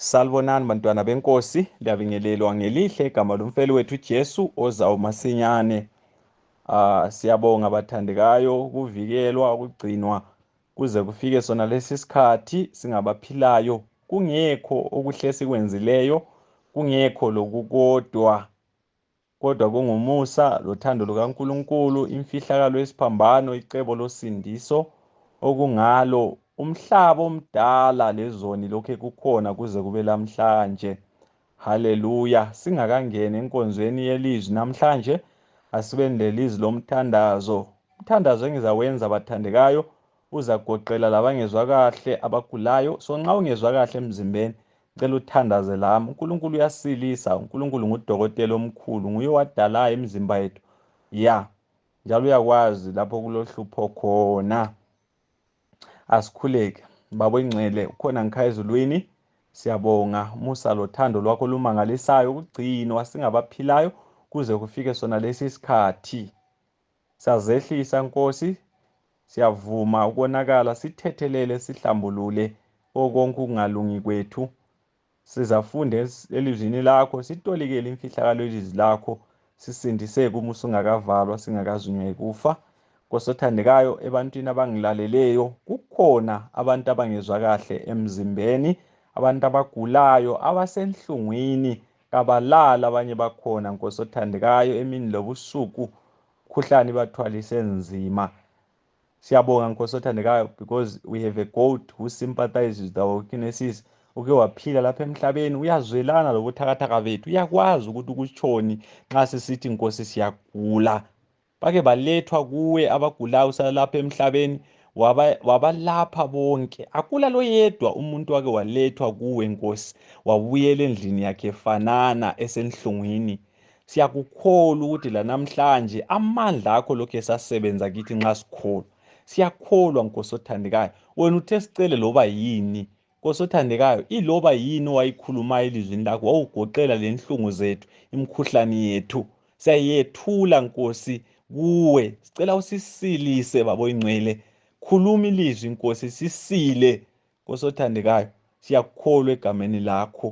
Salibonani bantwana benkosi, liyabingelelwa ngelihle igama lomfeli wethu Jesu ozawo masinyane. Ah siyabonga bathandekayo ukuvikelwa ukugcinwa kuze kufike sona lesi sikhathi singabaphilayo kungekho okuhle sikwenzileyo kungekho lokukodwa kodwa kungumusa lothando lukaNkulunkulu imfihlakalo yesiphambano icebo losindiso okungalo umhlaba omdala lezoni lokhe kukhona kuze kube lamhlanje haleluya singakangeni enkonzweni yelizwi namhlanje asibeni lelizwi lomthandazo umthandazo engizawenza bathandekayo uzagoqela labangezwa kahle abagulayo so nxa ungezwa kahle emzimbeni cela uthandaze lami unkulunkulu uyasilisa unkulunkulu ngudokotela omkhulu nguye wadalayo imizimba yethu ya njalo uyakwazi lapho kulohlupho khona asikhuleke babo ingcwele ukhona ngikhaya ezulwini siyabonga musa lothando lwakho olumangalisayo ukugcinwa singabaphilayo kuze kufike sona lesi sikhathi Sazehlisa Nkosi, siyavuma ukonakala, sithethelele, sihlambulule okonke ukungalungi kwethu. Sizafunda elizwini lakho, sitolikele imfihlakalo yelizwi lakho, sisindiseke uma usungakavalwa, singakazunywa yikufa. Nkosi othandekayo, ebantwini abangilaleleyo, kukhona abantu abangezwa kahle emzimbeni, abantu abagulayo, abasenhlungwini, kabalala abanye bakhona nkosi othandekayo emini lobusuku khuhlane bathwalise nzima siyabonga nkosi othandekayo because we have a goat who sympathizes with our weaknesses uke waphila lapha emhlabeni uyazwelana lobuthakathaka bethu uyakwazi ukuthi kutshoni nxa sisithi nkosi siyagula bake balethwa kuwe abagulayo usalalapha emhlabeni wabalapha bonke akula loyedwa umuntu wake walethwa kuwe nkosi wabuyela endlini yakhe fanana esenhlungwini siyakukholwa ukuthi lanamhlanje amandla akho lokhu esasebenza kithi nxa sikholwa siyakholwa nkosi othandekayo wena uthe sicele loba yini Kosothandekayo, iloba yini owayikhulumayo elizwini lakho wawugoqela lenhlungu zethu, imkhuhlane yethu. Siyayethula Nkosi kuwe. Sicela usisilise babo ingcwele. Khuluma ilizwi Nkosi sisile. Kosothandekayo, siyakukholwa egameni lakho.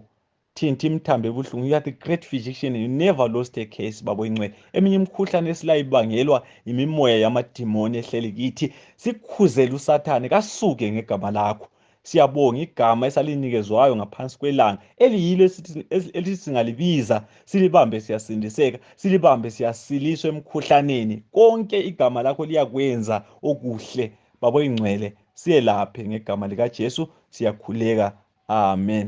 thinti imthambo ebuhlungu you are the great physician you never lost a case babo incwele eminye imikhuhlane esilayo ibangelwa yimimoya yamadimoni ehleli kithi sikhuzele usathane kasuke ngegama lakho siyabonga igama esalinikezwayo ngaphansi kwelanga eliyilo elithi singalibiza silibambe siyasindiseka silibambe siyasiliswa emkhuhlaneni konke igama lakho liyakwenza okuhle babo ingcwele siyelaphe ngegama likajesu siyakhuleka amen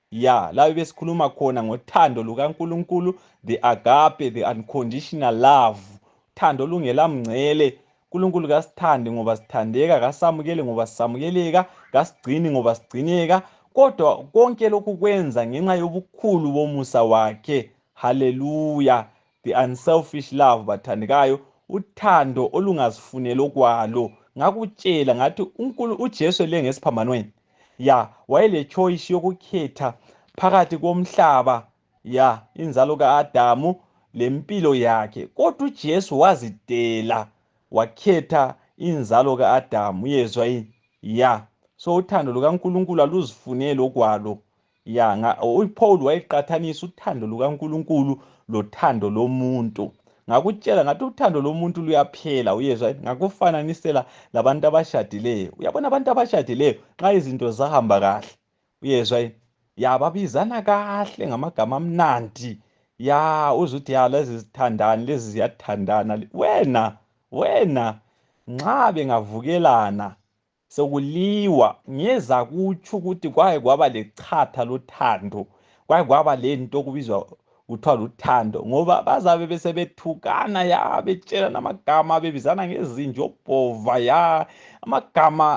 ya labe besikhuluma khona ngothando lukaNkulunkulu the agape the unconditional love thando olungela mngcele uNkulunkulu kasithandi ngoba sithandeka kasamukele ngoba sisamukeleka kasigcini ngoba sigcineka kodwa konke lokhu kwenza ngenxa yobukhulu bomusa wakhe haleluya the unselfish love bathandekayo uthando olungazifuneli okwalo ngakutshela ngathi unkulu ujesu ele ngesiphambanweni ya wayelechoice yokukhetha phakathi komhlaba ya inzalo ka-adamu lempilo yakhe kodwa ujesu wazidela wakhetha inzalo ka-adamu uyezwa yini ya so uthando lukankulunkulu aluzifuneli okwalo ya uPaul wayeqathanisa uthando lukaNkulunkulu lothando lomuntu ngakutshela ngathi uthando lomuntu luyaphela uyezwa ngakufananisela labantu abashadileyo uyabona abantu abashadileyo nxa izinto zahamba kahle uyezwa yini ya babizana kahle ngamagama amnandi ya uze uthi ya lezi zithandani lezi ziyathandana wena wena nxa bengavukelana sokuliwa ngeza kutsho ukuthi kwaye kwaba lechatha lothando kwaye kwaba lento okubizwa kuthiwa luthando ngoba bazabe besebethukana ya betshelana amagama bebizana ngezinje obhova ya amagama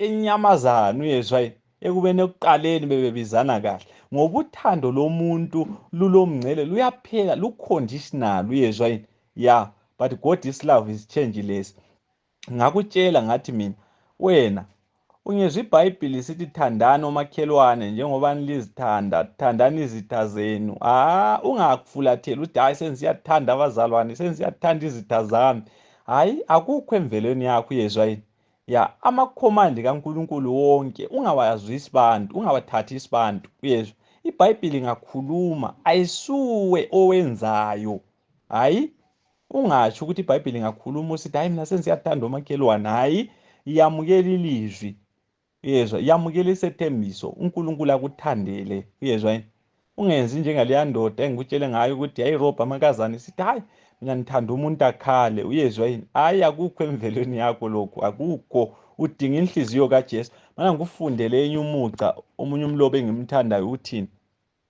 enyamazana uyezwa yini ekubeni ekuqaleni bebebizana kahle ngoba uthando lomuntu lulomngcele luyaphela luconditional uyezwa yini ya but god is love is changeless ngakutshela ngathi mina wena ungezwa ibhayibhili sithi thandani omakhelwane njengoba nilizithanda thandani izitha zenu ha ungakufulatheli ukuthi hhayi sengisiyathanda abazalwane sengisiyathanda izitha zami hhayi akukho emvelweni yakho uyezwa yini ya amakhomandi kankulunkulu wonke ungawazwisi bantu ungabathathi isibantu uyezwa ibhayibhili ngakhuluma ayisuwe owenzayo hayi ungatsho ukuthi ibhayibhile ingakhuluma usithi hayi mina sensiyathanda omakhelwane hayi yamukela ilizwi uyezwa yamukela isethembiso unkulunkulu akuthandele uyezwa yini ungenzi njengaleya ndoda engikutshele ngayo ukuthi yayirobha amakazane sithi hayi mina ngithanda umuntu akhale uyezwa yini hayi akukho emvelweni yakho lokhu akukho udinga inhliziyo kajesu mana ngikufundele enye umuca omunye umlobo engimthandayo uthini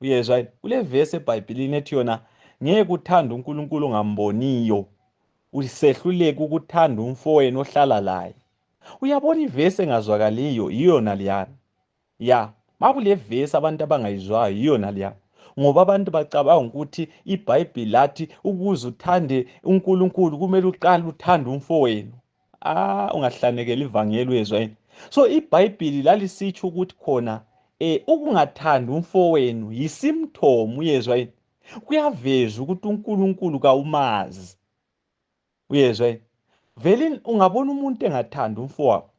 uyezwa yini kulevesi ebhayibhilini ethi yona ngeke kuthanda unkulunkulu ongamboniyo usehluleke ukuthanda umfowenu ohlala laye uyabona ivesi engazwakaliyo yiyona liyana ya makule vesi abantu abangayizwayo yiyona liyana ngoba abantu bacabanga ukuthi ibhayibhili lathi ukuze uthande unkulunkulu kumele uqale uthande umfowenu ah ungahlanekela ivangeli uyezwa yini so ibhayibhili lalisitsho ukuthi khona um ukungathandi umfowenu yisimthomo uyezwa yini kuyaveza ukuthi unkulunkulu kawumazi uyezwa yini vele ungabona umuntu engathandi umfowabo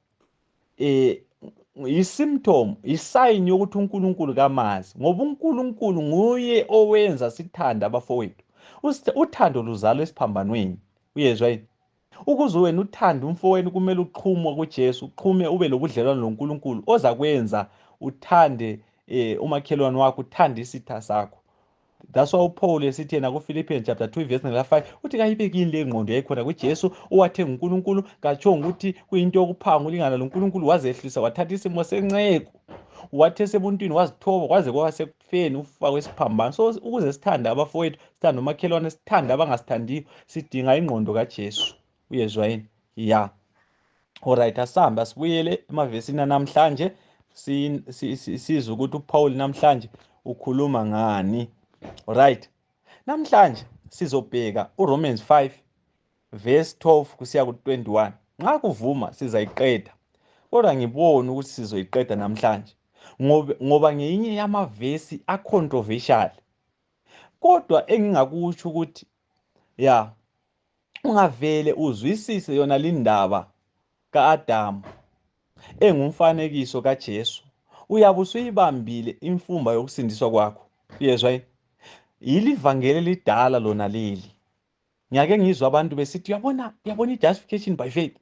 um yisymptom yisayini yokuthi unkulunkulu kamazi ngoba unkulunkulu nguye owenza sithande abafowethu uthando luzalwa esiphambanweni uyezwa yini Ukuze wena uthande umfowenu kumele uqhume kuJesu, uqhume ube lobudlelwano loNkulunkulu ozakwenza uthande eh, umakhelwane wakho, uthande isitha sakho. That's why uPaul esithi yena kuPhilippians chapter 2 verse number 5 uthi kayibekini le ngqondo yayikhona kuJesu owathe nguNkulunkulu katsho ukuthi kuyinto yokuphanga ulingana loNkulunkulu wazehlisa wathatha isimo senceku wathe sebuntwini wazithoba kwaze kwase ekufeni ukufa kwesiphambano so ukuze sithande abafowethu sithande umakhelwane sithande abangasithandiyo sidinga ingqondo kajesu uyezwa yini ya olright asihambe asibuyele emavesini anamhlanje sizwe ukuthi uphawuli namhlanje ukhuluma ngani olright namhlanje sizobheka uromans 5 verse 12 kusiya ku-21 nxa kuvuma sizayiqeda kodwa ngiboni ukuthi sizoyiqeda namhlanje ngoba ngeyinye yamavesi acontroversial kodwa engingakutsho ukuthi ya ungavele uzwisise yona lindaba ka-adamu engumfanekiso kajesu uyabe usuyibambile imfumba yokusindiswa kwakho yezwa yini yilivangeli elidala lona leli ngiyake ngizwa abantu besithi uyabona uyabona i-justification by faith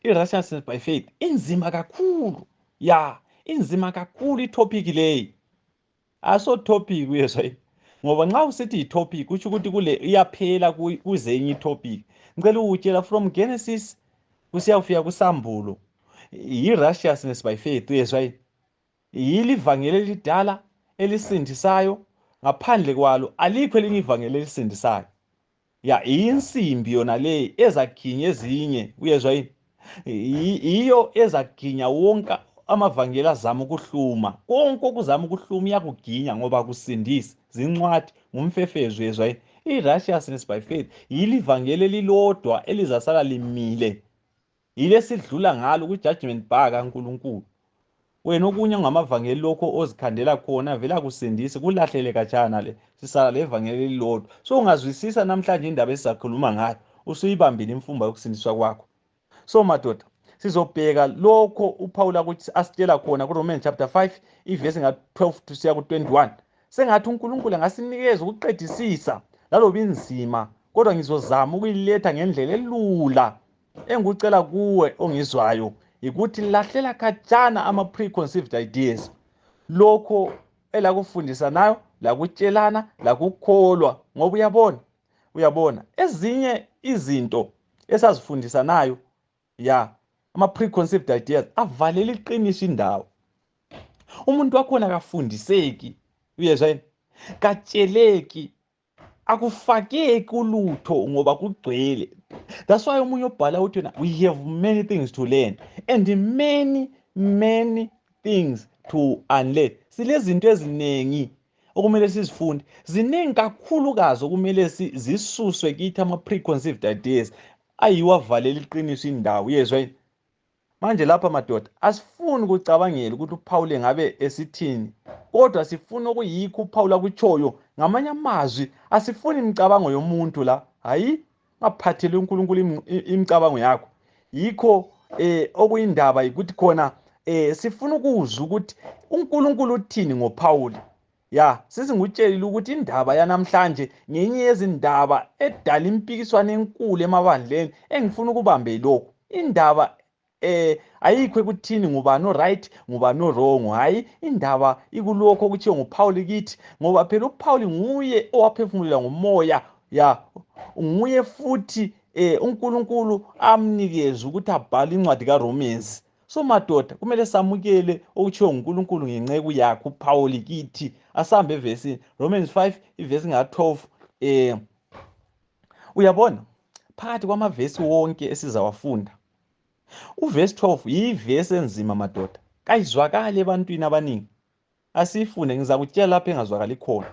i-righteousness by faith inzima kakhulu ya inzima kakhulu ithophiki leyi aso thophiki uyezwa yini ngoba nxa usithi yitopic kutsho ukuthi kule iyaphela kuze enye itopic ngicela ukutshela from genesis kusiyakufika kusambulo yi-righteousness by faith uyezwa yini Yili ivangeli elidala elisindisayo, ngaphandle kwalo alikho elinye ivangeli elisindisayo. Ya insimbi yona leyi ezaginya ezinye, uyezwa yini? Yiyo ezaginya wonke amavangeli azama ukuhluma. Konke okuzama ukuhluma iyakuginya ngoba kusindisi, zincwadi, ngumfefezo, uyezwa yini? I-righteousness by faith yili ivangeli elilodwa elizasala limile yile sidlula ngalo kwi-judgment bar kankulunkulu wena okunye ongamavangeli lokho ozikhandela khona vele akusindisi kulahlele katshana le sisala le vangeli elilodwa so ungazwisisa namhlanje indaba esizakhuluma ngayo usuyibambile imfumba yokusindiswa kwakho so madoda sizobheka lokho uphawula ukuthi asitshela khona kuromans chapter 5 ivesi nga-12 tusiya ku-21 sengathi unkulunkulu angasinikeza ukuqedisisa laloba inzima kodwa ngizozama ukuyiletha ngendlela elula engikucela kuwe ongizwayo yikuthi lahlela khatshana ama-preconceived ideas lokho elakufundisa nayo lakutshelana lakukholwa ngoba uyabona uyabona ezinye izinto esazifundisa nayo ya ama-preconceived ideas avalele iqiniso indawo umuntu wakhona kafundiseki uyezwa yini katsheleki akufakeki ulutho ngoba kugcwele that's why omunye obhala uthi yena we have many things to learn and many many things to unlearn silezinto eziningi okumele sizifunde ziningi kakhulukazi okumele zisuswe kithi ama-preconceived ideas ayiwo avalela iqiniso indawo yezwa yini manje lapha madoda asifuni ukucabangela ukuthi uphawule ngabe esithini kodwa sifuna okuyikho uphawula kutshoyo ngamanye amazwi asifuni imicabango yomuntu la hayi ngaphathele unkulunkulu imicabango yakho yikho um okuyindaba yikuthi khona um sifuna ukuzwa ukuthi unkulunkulu uthini ngophawuli ya sisi ngikutshelile ukuthi indaba yanamhlanje ngenye yezindaba edala impikiswano enkulu emabandleni engifuna ukubambe lokhu indaba eh ayikho ekuthini ngubani oright ngubani owrong hhayi indaba ikulokho okuthiwe nguphawuli kithi ngoba phela uphawuli nguye owaphefumulela ngomoya ya nguye futhi um unkulunkulu amnikeze ukuthi abhale incwadi karomans so madoda kumele samukele okutshiwo ngunkulunkulu ngenceku yakhe uphawuli kithi asambe evesini romans 5 ivesi nga-12 um eh, uyabona phakathi kwamavesi wonke esizawafunda uvesi 12 yivesi enzima madoda kayizwakali ebantwini abaningi asiyifunde ngizakutshela lapho engazwakali khona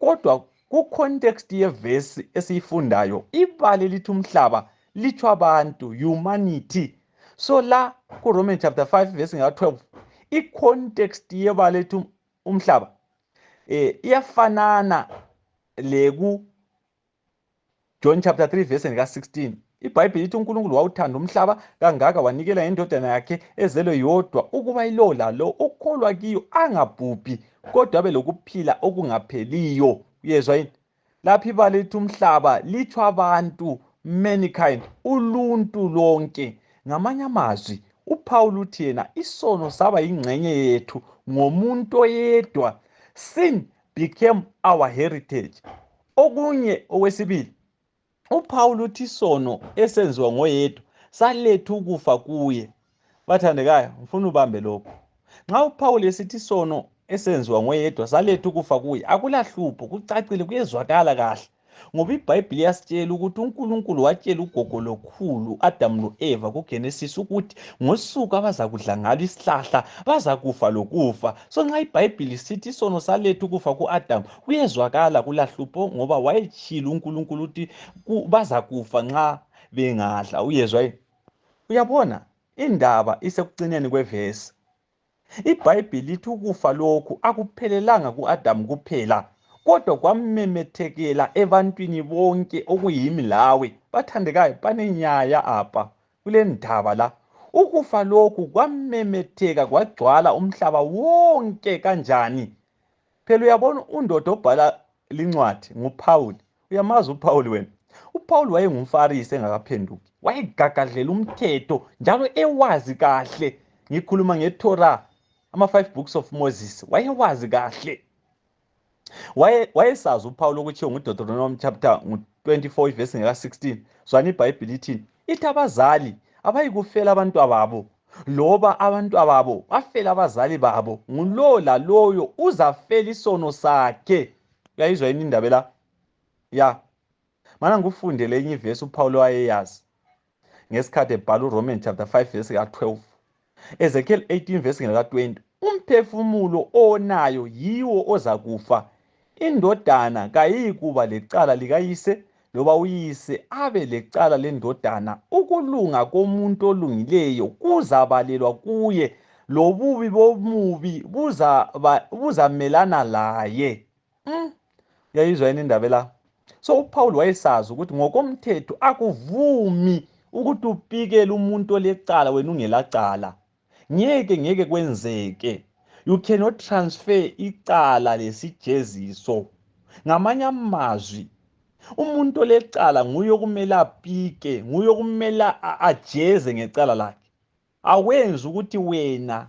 kodwa kucontext yevesi esiyifundayo ibali lithi umhlaba litsho abantu humanity so la kuroman chapter 5 vesi nga 12 icontext yebala lithi umhlaba um iyafanana leku john chapter 3 verse lika-16 ibhayibhile ithi unkulunkulu wawuthanda umhlaba kangaka wanikela ngendodana yakhe ezelwe yodwa ukuba ilowo lalo ukholwa kiyo angabhubhi kodwa abe lokuphila okungapheliyo uyezwa yini lapho ibala lithi umhlaba litsho abantu mankind uluntu lonke ngamanye amazwi uphawula uthi yena isono saba yingxenye yethu ngomuntu oyedwa sin became our heritage Okunye okwesibili, uPhawuli uthi isono esenziwa ngoyedwa saletha ukufa kuye. Bathandekayo, ngifuna ubambe lokhu. Nxa uPhawuli esithi isono esenziwa ngoyedwa saletha ukufa kuye, akulahlupho, kucacile, kuyezwakala kahle. Ngoba iBhayibhili yasitshela ukuthi uNkulunkulu watshela ugogo lokhulu Adamu loEva kuGenesis ukuthi ngosuku abazakudla ngalo isihlahla bazakufa lokufa. So nxa iBhayibhili sithi isono saletha ukufa kuAdamu kuyezwakala kulahlupho ngoba wayetshile unkulunkulu ukuthi bazakufa nxa bengadla uyezwa yini uyabona indaba isekucineni kwevesi ibhayibhili lithi ukufa lokhu akuphelelanga ku-adamu kuphela kodwa kwamemethekela ebantwini bonke okuyimi lawe bathandekayo banenyaya apha kule ndaba la ukufa lokhu kwamemetheka kwagcwala umhlaba wonke kanjani phela uyabona undoda obhala lincwadi nguphawuli uyamazi uphawuli wena uphawuli wayengumfarisi engakaphenduki wayegagadlela umthetho njalo ewazi kahle ngikhuluma ngetorah ama-five books of moses wayewazi kahle wayesazi uphawulo okuthiwo ngudeuteronomy chapter ngu-24 ivesi ngeka-16 zwana ibhayibhile ithini ithi abazali abayikufela abantwababo loba abantwababo bafela abazali babo ngulowo laloyo uzafela isono sakhe uyayizwa yini indaba la ya mana ngikufundele enye ivesi uphawulo wayeyazi ngesikhathi ebhala uroman chapter 5 vesi ka-12 Ezekiel 18 verse ngaka 20 umphefumulo onayo yiwo ozakufa indodana kayiyikuba lecala likayise loba uyise abe lecala lendodana ukulunga komuntu olungileyo kuzabalelwa kuye lobubi bomubi buzamelana buza laye mm. yayizwa yini indaba la so uphawuli wayesazi ukuthi ngokomthetho akuvumi ukuthi upikele umuntu olecala wena ungelacala ngeke ngeke kwenzeke you cannot transfer icala lesijeziso ngamanye amazwi umuntu olecala nguye okumele apike nguye okumele ajeze ngecala lakhe awenzi ukuthi wena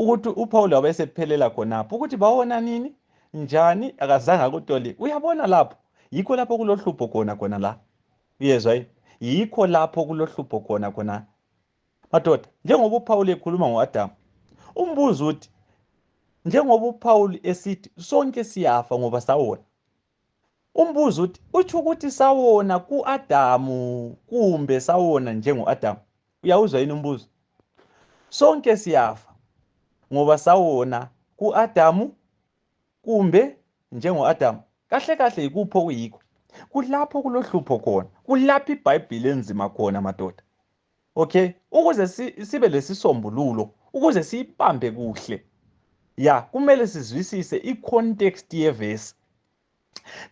ukuthi uPaul wabesephelela khonapho ukuthi bawona nini njani akazange akutoli uyabona lapho yikho lapho kulohlupho khona khona la uyezwa yini yikho lapho kulohlupho khona khona madoda njengoba uphawuli ekhuluma ngo-adamu umbuzo uthi njengoba uphawuli esithi sonke siyafa ngoba sawona Umbuzo uthi utsho ukuthi sawona kuAdamu kumbe sawona njengoAdamu. Uyawuzwa yini umbuzo? Sonke siyafa ngoba sawona kuAdamu kumbe njengoAdamu. Kahle kahle yikuphi okuyikho? Kulapho kulohlupho khona. Kulapho iBhayibhili enzima khona madoda. okay ukuze sibe lesisombululo ukuze siyibambe kuhle ya kumele sizwisise i-context yevesi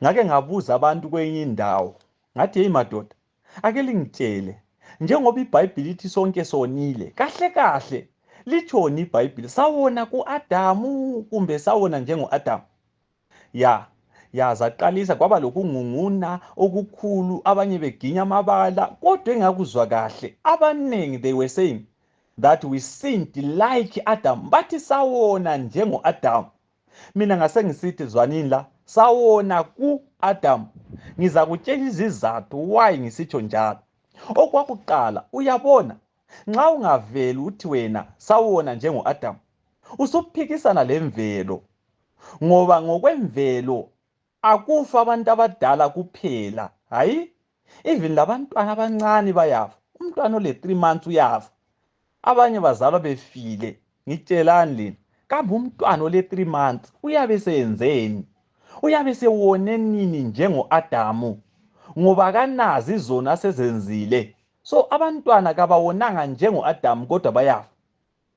ngake ngabuza abantu kwenye indawo ngathi yeyi madoda ake lingitshele njengoba ibhayibhili ithi sonke sonile kahle kahle litshoni ibhayibhili sawona ku-adamu kumbe sawona njengo-adamu ya ya zaqalisa kwaba lokungunguna okukhulu abanye beginya amabala kodwa engakuzwa kahle abaningi they were saying that we sinned like adam bathi sawona njengo-adamu mina ngasengisithi zwanini la sawona ku-adamu ngizakutshela izizathu why ngisitsho njalo okwakuqala uyabona nxa ungaveli uthi wena sawona njengo-adamu usuphikisana lemvelo ngoba ngokwemvelo akufa abantu abadala kuphela hayi even labantwana abancane bayafa umntwana ole-three months uyafa abanye bazalwa befile ngitshelani lina kambe umntwana ole-three months uyabe seyenzeni uyabe sewone nini njengo-adamu ngoba kanazi zona sezenzile so abantwana kabawonanga njengo-adamu kodwa bayafa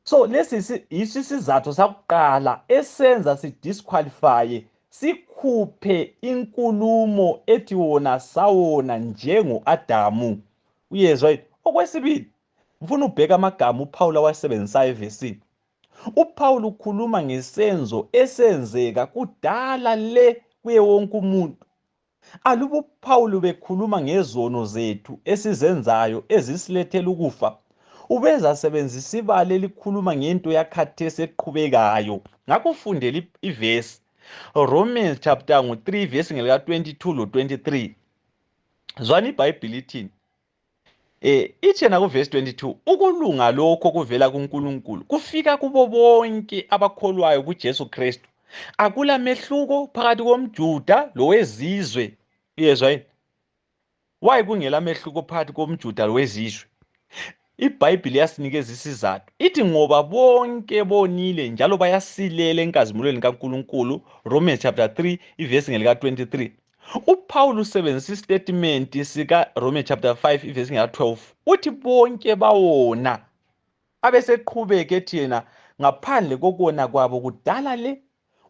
so lesi yiso isizathu sakuqala esenza sidisqualifye sikhuphe inkulumo ethi wona sawona njengo-adamu uyezwa yini okwesibili ngifuna ubheka amagama uphawulu awasebenzisayo evesini uphawulu ukhuluma ngesenzo esenzeka kudala le kuye wonke umuntu Aluba uPhawuli bekhuluma ngezono zethu esizenzayo ezisilethela ukufa, ubezasebenzisa ibala elikhuluma ngento yakhathesi eqhubekayo. Ngakho fundela ivesi Romans chapter ngo 3 verse ngelika 22 lo 23. Zwani iBhayibhili ithini? Eh itshena kuverse 22 ukulunga lokho kuvela kuNkulunkulu kufika kubo bonke abakholwayo kuJesu Kristu akula mehluko phakathi komJuda lowezizwe uyezwa yini waye kungela mehluko phakathi komJuda lowezizwe iBhayibhili yasinikeza isizathu ithi ngoba bonke bonile njalo bayasilela enkazimulweni kaNkulunkulu Romans chapter 3 iverse ngelika 23 uPaul usebenzisa istatement sika Rome chapter 5 verse 12 uthi bonke bawona abeseqhubeke ethi yena ngaphandle kokona kwabo kudala le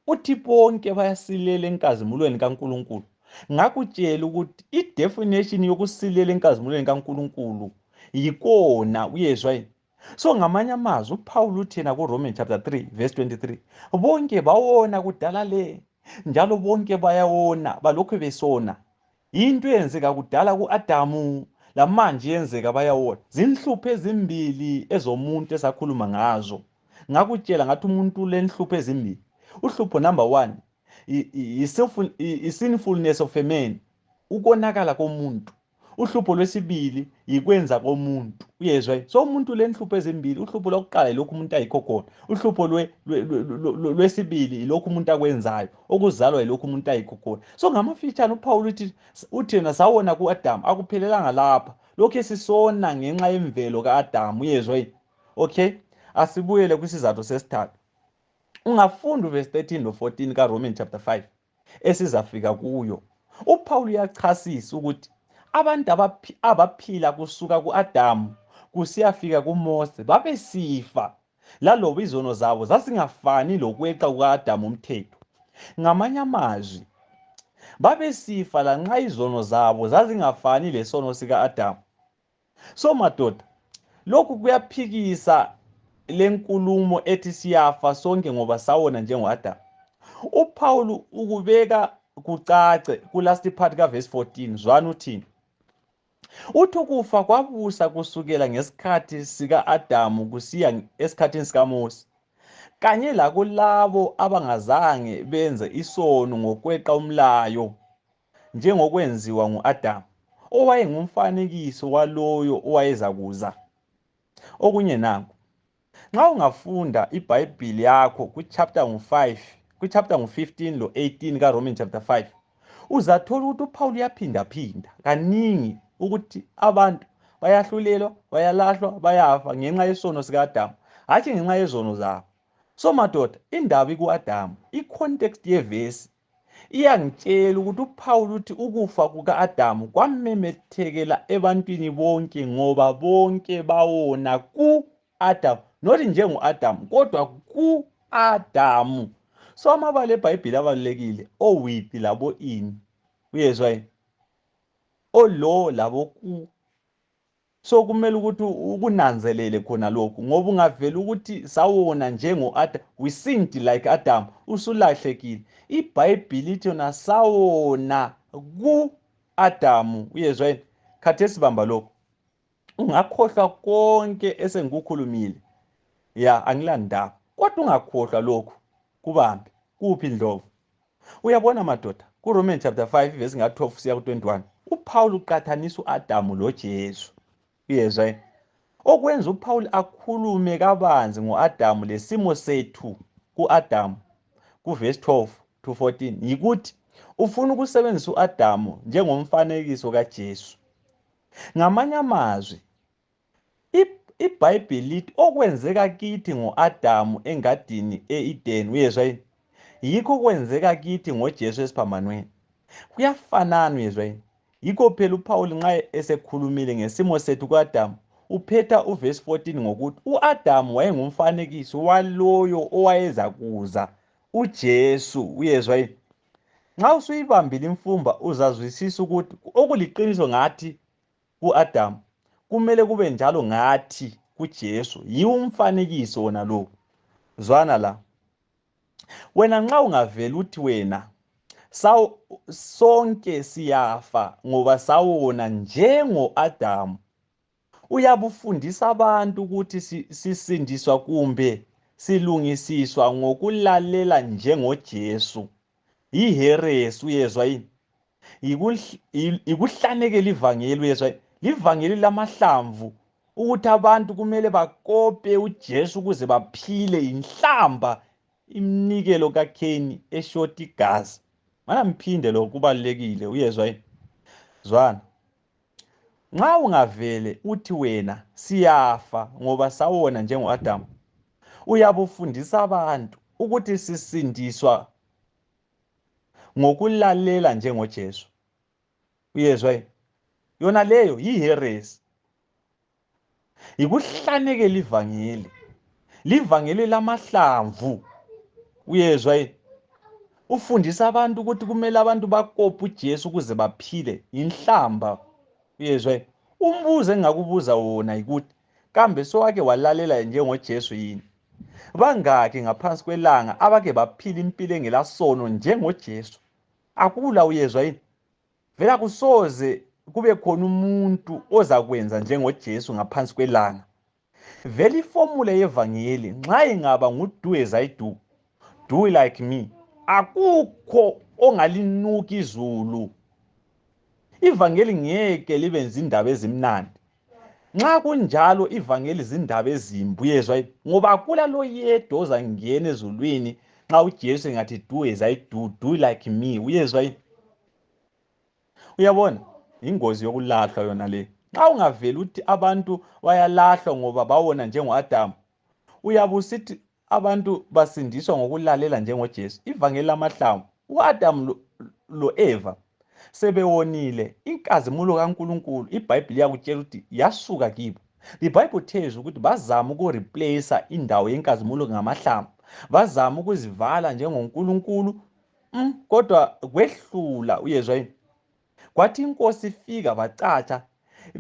uthi bonke bayasilela enkazimulweni kaNkuluNkulu ngakutshela ukuthi idefinition yokusilela enkazimulweni kaNkuluNkulu yikona uyezwa so ngamanye amazwi uphawula uthi yena kuroman chapter 3 verse 23 bonke bawona kudala le njalo bonke bayawona balokhu besona yinto eyenzeka kudala ku-adamu lamanje yenzeka bayawona zinhlupho ezimbili ezomuntu esakhuluma ngazo ngakutshela ngathi umuntu lenhlupho ezimbili uhlupho number one i-sinfulness of a man ukonakala komuntu uhlupho lwesibili yikwenza komuntu uyezwa so umuntu lenhlupho ezimbili uhlupho lokuqala yilokhu umuntu ayikho khona uhlupho lwesibili yilokhu umuntu akwenzayo okuzalwa yilokhu umuntu ayikho khona so ngamafitshane uphawula uthi uthina sawona ku-adamu akuphelelanga lapha lokhu esisona ngenxa yemvelo ka-adamu uyezwa yini okay asibuyele kwisizathu sesithathu ungafunda uvesi 13 lo 14 karoman chapter 5 esizafika kuyo uPaul uyachasisa ukuthi abantu abaphila kusuka kuAdamu kusiyafika kuMose babesifa laloba izono zabo zasingafani lokweqa kukaAdamu umthetho ngamanye amazwi babesifa lanxa izono zabo zazingafani lesono sikaAdamu so madoda lokhu kuyaphikisa lenkulumo ethi siyafa sonke ngoba sawona njengoAdamu uPaul ukubeka kucace kulast part kaverse 14 zwani uthini uthi ukufa kwabusa kusukela ngesikhathi sika-adamu kusiya esikhathini sikamose kanye lakulabo abangazange benze isono ngokweqa umlayo njengokwenziwa ngu-Adamu, owayengumfanekiso waloyo owayezakuza. Okunye nanku, nxa ungafunda iBhayibhili yakho kuchapter ngu-5, kuchapter ngu-15 lo-18 kaRoman chapter 5, uzathola ukuthi uPhawuli uyaphindaphinda kaningi ukuthi abantu bayahlulelwa, bayalahlwa, bayafa ngenxa yesono sika-Adamu, hatshi ngenxa yezono zabo. So madoda, indaba iku-Adamu, i-context yevesi iyangitshela ukuthi uphawula ukuthi ukufa kuka-adamu kwamemethekela ebantwini bonke ngoba bonke bawona ku-adamu not njengo-adamu kodwa ku-adamu so amabala ebhayibhile abalulekile owiphi labo ini uyezwa yini olo labo ku so kumele ukuthi ukunanzelele khona lokhu ngoba ungavela ukuthi sawona njengo-adam we sinned like adam usulahlekile ibhayibhili ithi yona sawona ku-adamu uyezwa yini khathesi bamba lokhu ungakhohlwa konke esengikukhulumile ya angilandaba kodwa ungakhohlwa lokhu kubambe kuphi ndlovu uyabona madoda kuroman chapter 5 vesi nga-12 siya ku-21 uphawuli uqathanisa u-adamu lojesu uyezwa yini okwenza uphawuli akhulume kabanzi ngo-adamu lesimo sethu ku-adamu kuvesi 12 to 14 yikuthi ufuna ukusebenzisa u-adamu njengomfanekiso kajesu ngamanye amazwi IBhayibhili lithi okwenzeka kithi ngo-Adamu engadini e-Edeni, uyezwa yini? Yikho okwenzeka kithi ngoJesu esiphambanweni. Kuyafanana, uyezwa yini? Yikho phela uPhawuli nxa esekhulumile ngesimo sethu ku-Adamu, uphetha uvesi 14 ngokuthi u-Adamu wayengumfanekiso waloyo owayeza kuza, uJesu, uyezwa yini? Nxa usuyibambile imfumba, uzazwisisa ukuthi okuliqiniso ngathi kuAdamu kumele kube njalo ngathi kuJesu yiwumfanekiso wona lo zwana la wena nxa ungavela uthi wena sawo sonke siyafa ngoba sawona njengo Adamu uyabufundisa abantu ukuthi sisindiswa kumbe silungisiswa ngokulalela njengoJesu yiheresi uyezwa yini yikuhlanekela ivangeli uyezwa livangeli lamahlamvu ukuthi abantu kumele bakope uJesu ukuze baphile inhlamba imnikelo kaKheni eshoti igazi mana mphinde lokho kubalekile uyezwa yini zwana nxa ungavele uthi wena siyafa ngoba sawona njengoAdamu uyabufundisa abantu ukuthi sisindiswa ngokulalela njengoJesu uyezwa yini yona leyo yiheresi yikuhlanekela ivangeli livangeli lamahlamvu uyezwa yini ufundisa abantu ukuthi kumele abantu bakophe uJesu ukuze baphile inhlamba uyezwa yini umbuzo engakubuza wona yikuthi kambe sowake walalela njengoJesu yini Bangaki ngaphansi kwelanga abake baphila impilo engelasono njengoJesu? Akula uyezwa yini? Vela kusoze kube khona umuntu ozakwenza njengoJesu ngaphansi kwelanga. Vele ifomula yevangeli nxa ingaba ngudu as I do, do like me, akukho ongalinuka izulu. Ivangeli ngeke libenza indaba ezimnandi. Nxa kunjalo ivangeli zindaba ezimbi uyezwa ngoba kula loyedwa ozangena ezulwini nxa uJesu engathi do as I do do like me uyezwa uyabona ingozi yokulahlwa yona le nxa ungaveli ukuthi abantu bayalahlwa ngoba bawona njengoAdamu uyabusithi abantu basindiswa ngokulalela njengoJesu ivangeli lamahlamvu uAdamu loEva sebewonile inkazimulo kaNkulunkulu iBhayibhili yakutshela ukuthi yasuka kibo the bible tells ukuthi bazama ukureplace indawo yenkazimulo ngamahlamvu bazama ukuzivala njengoNkulunkulu mm, kodwa kwehlula uyezwa yini kwathi inkosi ifika bacatsha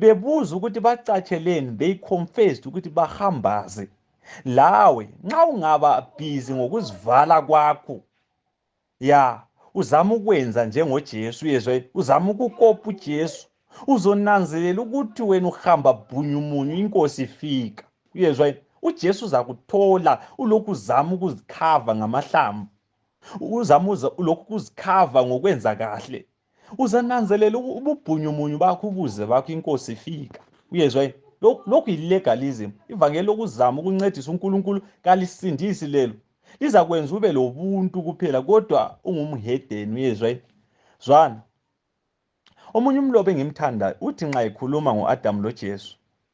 bebuza ukuthi bacatsheleni they confessed ukuthi bahambaze lawe nxa ungaba busy ngokuzivala kwakho ya uzama ukwenza njengojesu yezwa uzama ukukopa ujesu uzonanzelela ukuthi wena uhamba bhunyumunyu inkosi ifika uyezwa ujesu uzakuthola ulokhu uzama ukuzikhava ngamahlamvu uzamuza lokhu kuzikhava ngokwenza kahle uzananzelela ububhunyumunyu bakho ubuze bakho inkosi ifika uyezwa yini lokhu yilegalism ivangeli lokuzama ukuncedisa unkulunkulu kalisindisi lelo lizakwenza ube lobuntu kuphela kodwa ungumhedeni uyezwa yini zwana omunye umlobi engimthandayo uthi nxa ekhuluma ngo-adamu lojesu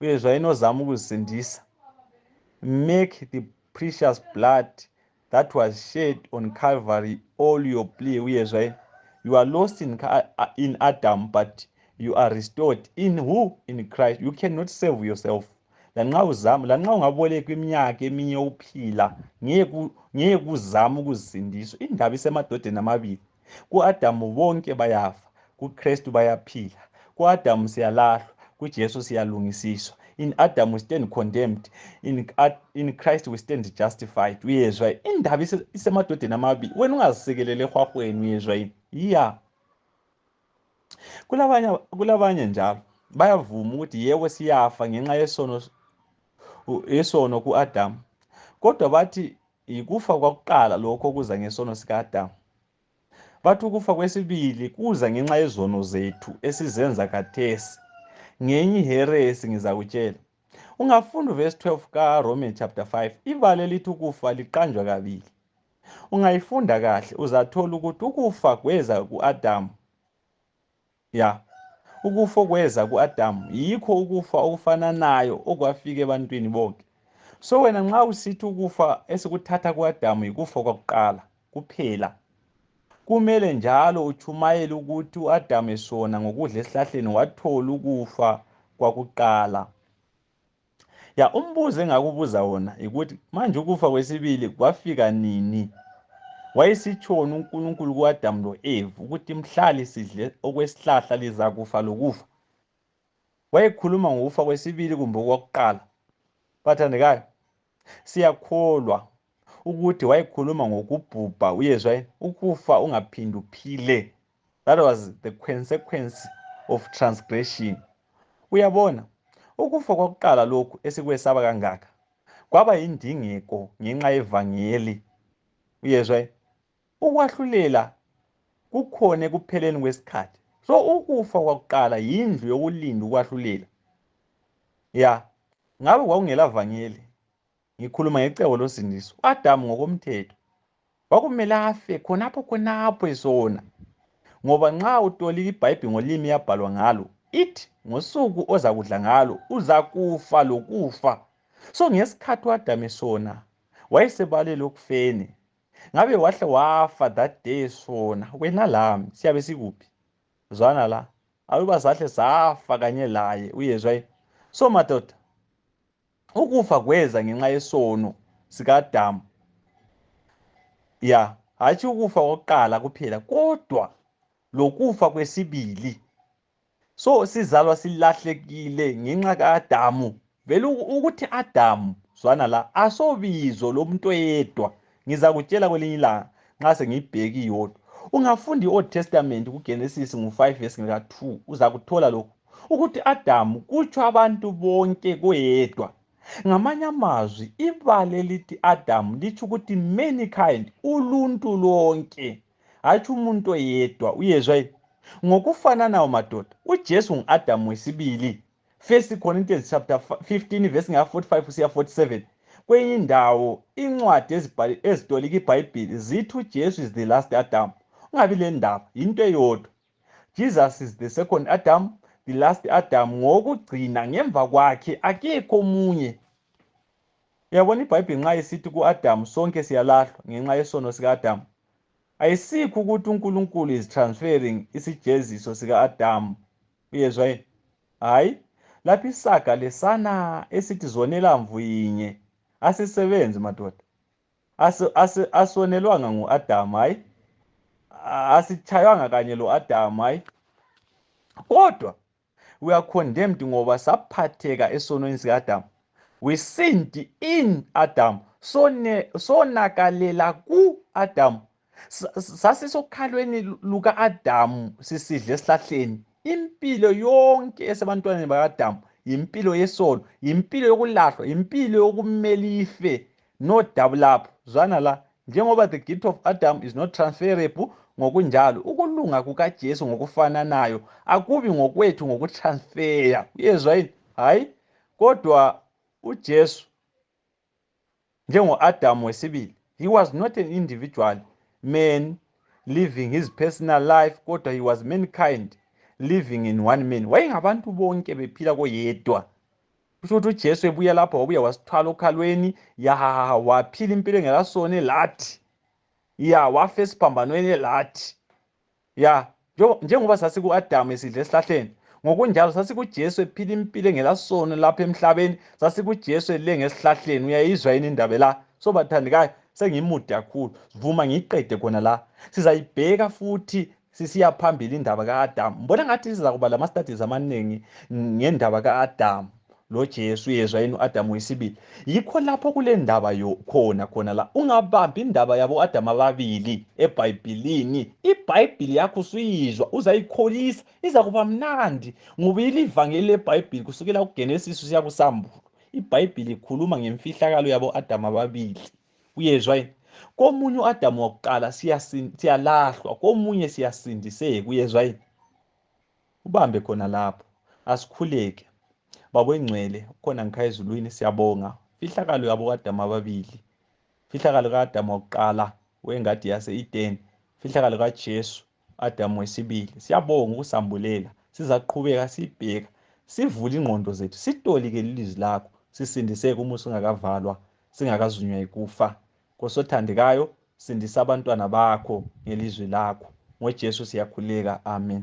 uye zvainozama kuzindisa make the precious blood that was shed on calvary all your plea uye zvai you are lost in, in adam but you are restored in who in christ you cannot save yourself lanxa uzama lanxa ungaboleka iminyaka eminye uphila ngeke uzame ukuzindiswa indaba isemadodeni amabili Ku-Adamu bonke bayafa, kuKristu bayaphila. Ku-Adamu siyalahlwa, kuJesu siyalungisiswa. In Adam we stand condemned, in, in Christ we stand justified. Uyezwa indaba isemadodeni amabili, wena ungazisekelele ehwahweni, uyezwa yini? Ya. Kulabanye kulabanye njalo bayavuma ukuthi yebo siyafa ngenxa yesono yesono kuAdam. Kodwa bathi Yikufa kwakuqala lokho okuza ngesono sikaAdamu. Bathi ukufa kwesibili kuza ngenxa yezono zethu esizenza khathesi. Ngenye iheresi ngizakutshela. Ungafunda uverse 12 kaRoman chapter 5 ibala elithi ukufa liqanjwa kabili. Ungayifunda kahle uzathola ukuthi ukufa kweza kuAdamu ya ukufa okweza ku-adamu yikho ukufa okufananayo okwafika ebantwini bonke so wena nxa usithi ukufa esikuthatha ku-adamu yikufa kwakuqala kuphela kumele njalo utshumayele ukuthi u-adamu esona ngokudla esihlahleni wathola ukufa kwakuqala ya umbuzo engakubuza wona yikuthi manje ukufa kwesibili kwafika nini wayesitshoni unkulunkulu kuadamu lo-eve ukuthi mhlali sidle okwesihlahla lizakufa lokufa wayekhuluma ngokufa kwesibili kumbe okwakuqala bathandekayo Siyakholwa ukuthi wayekhuluma ngokubhubha uyezwa ukufa ungaphindi uphile that was the consequence of transgression uyabona ukufa kwakuqala lokhu esikwesaba kangaka kwaba yindingeko ngenxa yevangeli uyezwa Ukwahlulela kukhona ekupheleni kwesikhathi. So ukufa kwakuqala yindlu yokulinda ukwahlulela. Ya, ngabe kwakungela vangeli. Ngikhuluma ngecebo losindiso. Adamu ngokomthetho. Kwakumele afe khonapho khonapho esona. Ngoba nxa utolika ibhayibhi ngolimi yabhalwa ngalo, ithi ngosuku ozakudla ngalo uzakufa lokufa. So ngesikhathi uAdamu esona, wayesebalele okufeni. ngabe wahle wafa that day sona wena lami siyabe sikuphi zwana la aluba sahle safa kanye laye uyezwa yini so madoda ukufa kweza ngenxa yesono sikadamu ya hatshi ukufa kokuqala kuphela kodwa lokufa kwesibili so sizalwa silahlekile ngenxa ka-adamu vele ukuthi adamu zwana la asobizo lomuntu oyedwa ngizakutshela kwelinye ilanga nxa sengiyibheki yodwa ungafunda i-old testament kugenesis ngu-5 vesi ngika-2 uzakuthola lokhu ukuthi adamu kutsho abantu bonke koyedwa ngamanye amazwi ibale lithi adamu litsho ukuthi mankind uluntu lonke hatshi umuntu oyedwa uyezwa yini ngokufananayo madoda ujesu ngu-adamu wesibili first corinthians chapter 15 verse nga-45 kusiya 47 kwenye indawo incwadi ezitolika ibhayibhili zithi ujesu is the last adamu ungabi le ndaba yinto eyodwa Jesus is the second Adam, the last Adam ngokugcina ngemva kwakhe akekho omunye. Uyabona iBhayibheli nxa isithi kuAdam sonke siyalahlwa ngenxa yesono sikaAdam. Ayisikho ukuthi uNkulunkulu is transferring isijeziso sikaAdam. Uyezwa yini? Hayi, lapha isaga lesana esithi zonela mvu yinye asisebenzi madoda. asonelwanga ngu-adamu hayi asitshayanga kanye lo-adamu hayi kodwa we are condemned ngoba saphatheka esonweni sika-adamu we sinned in adamu sonakalela ku-adamu sasisokhalweni luka-adamu sisidle esihlahleni impilo yonke esebantwaneni baka-adamu yimpilo yesono yimpilo yokulahlwa yimpilo yokumele ife no double lapho zwana la njengoba the gift of adam is not transferable ngokunjalo ukulunga kukajesu ngokufananayo akubi ngokwethu ngokutransfeya uyezwa yini hhayi kodwa ujesu njengo-adamu wesibili he was not an individual man living his personal life kodwa he was mankind living in one man wayengabantu bonke bephila koyedwa kusho ukuthi ujesu ebuya lapho wabuya wasithwala okhalweni yahahaha waphila impilo engelasone lathi ya wafa esiphambanweni lathi ya njengoba sasiku-adamu esidla esihlahleni ngokunjalo sasikujesu ephila impilo engelasono lapha emhlabeni sasikujesu ele ngesihlahleni uyayizwa yini indaba la so bathandekayo sengimude kakhulu vuma ngiyiqede khona la sizayibheka futhi sisiya phambili indaba ka-adamu mbona ngathi siza kuba lama-studies amaningi ngendaba ka-adamu loJesu yezwa yini uAdam wesibili yikho lapho kulendaba yo khona khona la ungabambi indaba yabo Adam ababili eBhayibhilini iBhayibhili yakho usuyizwa uzayikholisa iza kuba mnandi ngoba ilivangeli leBhayibhili kusukela kuGenesis usiya kuSambulo iBhayibhili ikhuluma ngemfihlakalo yabo Adam ababili uyezwa yini komunye uAdam wakuqala siyalahlwa komunye siyasindiseka uyezwa yini ubambe khona lapho asikhuleke babengcwele khona ngikhaya ezulwini siyabonga fihlakalo yabo kadama ababili fihlakalo kadama wokuqala wengadi yase-edeni fihlakalo kajesu adamu wesibili siyabonga ukusambulela sizaqhubeka sibheka sivule ingqondo zethu sitolike lilizwi lakho sisindiseke uma usungakavalwa singakazunywa yikufa Nkosi othandekayo, sindisa abantwana bakho ngelizwi lakho. NgoJesu siyakhuleka. Amen.